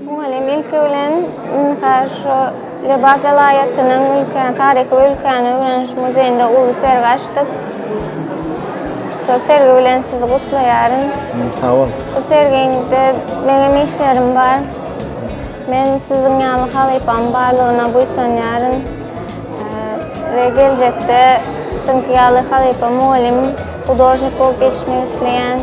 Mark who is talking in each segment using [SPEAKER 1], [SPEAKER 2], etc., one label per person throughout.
[SPEAKER 1] Mugallym ilki bilen Münhar şu Lebap welaýatynyň ülkäni, taryhy ülkäni öwreniş muzeýinde uly sergi açdyk. Şu sergi bilen sizi gutlaýaryn. Sag bol.
[SPEAKER 2] Şu sergiňde
[SPEAKER 1] meňem işlerim bar. Men siziň ýaly halypam barlygyna buýsanýaryn we geljekde siziňki ýaly halypa mugallym, hudožnik bolup ýetişmek isleýän.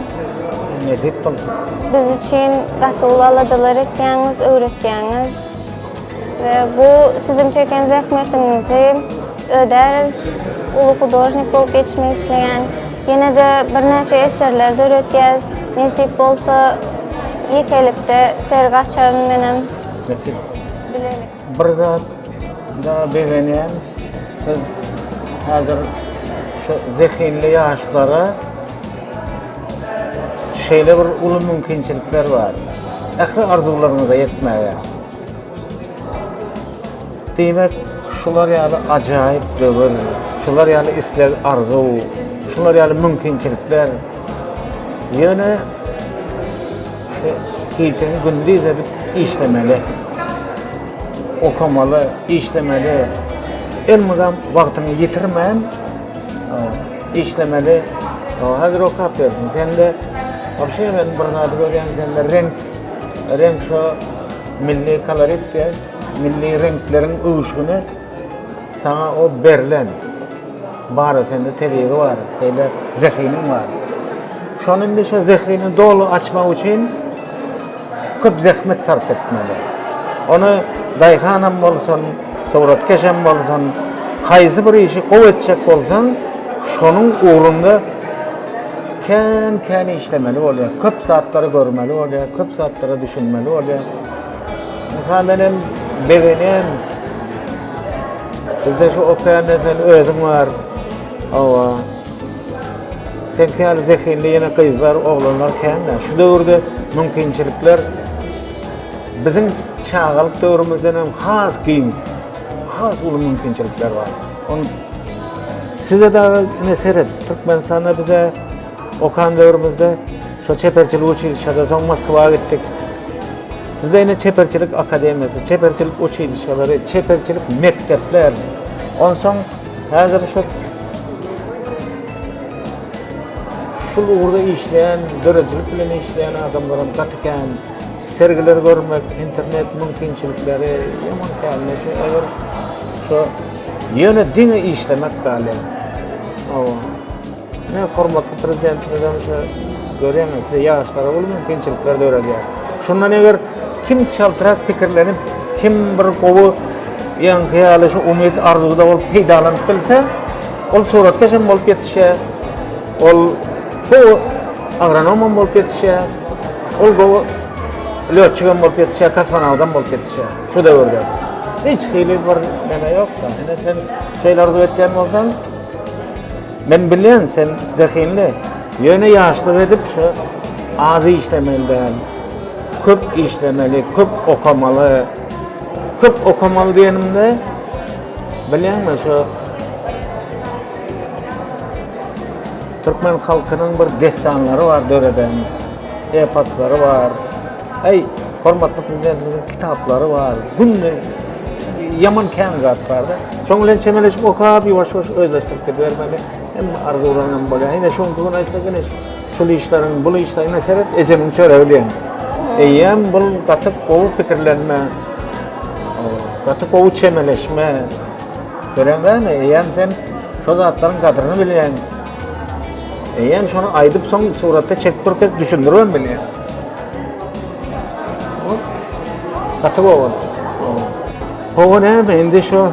[SPEAKER 1] Nesip
[SPEAKER 2] bolsun. Biz üçin
[SPEAKER 1] gaty uly aladalar etýäňiz, öwretýäňiz we bu siziň çeken zähmetiňizi Öderiz uly hudožnik bolup geçmek isleýän. Ýene-de birnäçe eserler döretýäs. Nesip bolsa, ýekelikde sergi açaryn menem. Nesip.
[SPEAKER 2] Bilelik.
[SPEAKER 1] Bir
[SPEAKER 2] zatda begenýän, siz häzir şu zehinli ýaşlara şeýle bir uly mümkinçilikler bar. Ähli arzuwlaryňyza ýetmäge. Diýmek, şular ýaly ajaýyp döwür, şular ýaly isleg-arzuw, şular ýaly mümkinçilikler ýöne gijäni gündiz edip işlemeli, okamaly, işlemeli, elmydam wagtyňy ýitirmän işlemeli. Häzir okap ýörsüň, sende wabşe men bir zady görýän, sende reňk, reňk şo milli kolorit diýen. Milli reňkleriň öwüşgini saňa o berlen. Bara sende tebigy bar, şeýle zehiniň bar. Şony indi şu zehini doly açmak üçin köp zähmet sarp etmeli. Ony daýhan hem bolsun, suratkeş hem bolsun, haýsy bir işi gowy etjek bolsaň, şonuň ugrunda kän-kän işlemeli bolýar. Köp zatlary görmeli bolýar, köp zatlara düşünmeli bolýar. Ynha menem begenýän. Bizde şu okaýanda sen özüň bar. Hawa. Sen käli zehinli ýene gyzlar, oglanlar kän-de. Şu döwürde mümkinçilikler biziň çagalyk döwrümizden hem has giň, has uly mümkinçilikler bar. Ony size dagy ine seret, Türkmenistanda bize Okan döwrümizde şo çeperçilik uçilişede soň Moskwa gitdik. Bizde indi çeperçilik akademiýasy, çeperçilik uçilişeleri, çeperçilik mekdepler. Onsoň häzir şu şul ugurda işleýän, döredijilik bilen işleýän adamlaram gaty kän. Sergileri görmek, internet mümkinçilikleri ýaman kän. Şu eger şu ýöne diňe işlemek galýar. Hawa. Ine, hormatly Prezidentimiziň şu görýäňiz, size ýaşlara uly mümkinçilikler döredýär. Şundan eger kim çaltrak pikirlenip, kim bir gowy ýaňky ýaly şu umyt arzuwda bolup peýdalanyp bilse, ol suratkeş hem bolup ýetişýär, ol gowy agronom hem bolup ýetişýär, ol gowy lötçik hem bolup ýetişýär, kosmonawt hem bolup ýetişýär şu döwürde. Hiç hili bir neme ýok. Ine sen şeýle arzuw etýän bolsaň, Men bilýän, sen zehinli. Ýöne ýaşlyk edip şu az işlemeli däl. Köp işlemeli, köp okamaly. Köp okamaly diýenimde, bilýäňmi, şu türkmen halkynyň bir dessanlary bar döreden, eposlary bar. Eý, hormatly prezidentimiziň kitaplary bar. Günde ýaman kän zat barda. Şoň bilen çemeleşip okap, ýuwaş-ýuwaş özleşdirip gidibermeli. Hem arzuwlaryň hem bolýar. Ine şoň gün aýtsa gene şul işleriň, bul işleriň ine seret, ejemiň çöregi diýen. Eýýäm bul gaty gowy pikirlenme. Gaty gowy çemeleşme. Göreňmi, eýýäm sen şu zatlaryň gadryny bilýän. Eýýäm şony aýdyp soň suratda çekip durup düşündirip hem bilýän. Gaty gowy boldy. Gowy näme, indi şu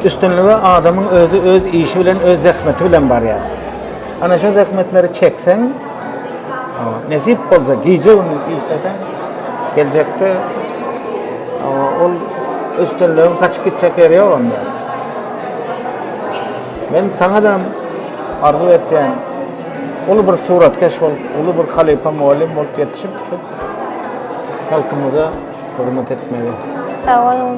[SPEAKER 2] üstünlige adamyň özi öz işi bilen, öz zähmeti bilen barýar. Ana şu zähmetleri çekseň, nesip bolsa gije gündiz işleseň, geljekde ol üstünligiň gaçyp gitjek ýeri ýok onda. Men saňa da arzuw etýän, Uly bir suratkeş bolup, uly bir halypa mugallym bolup ýetişip, şu
[SPEAKER 1] halkymyza
[SPEAKER 2] hyzmat etmegi.
[SPEAKER 1] Sag
[SPEAKER 2] boluň.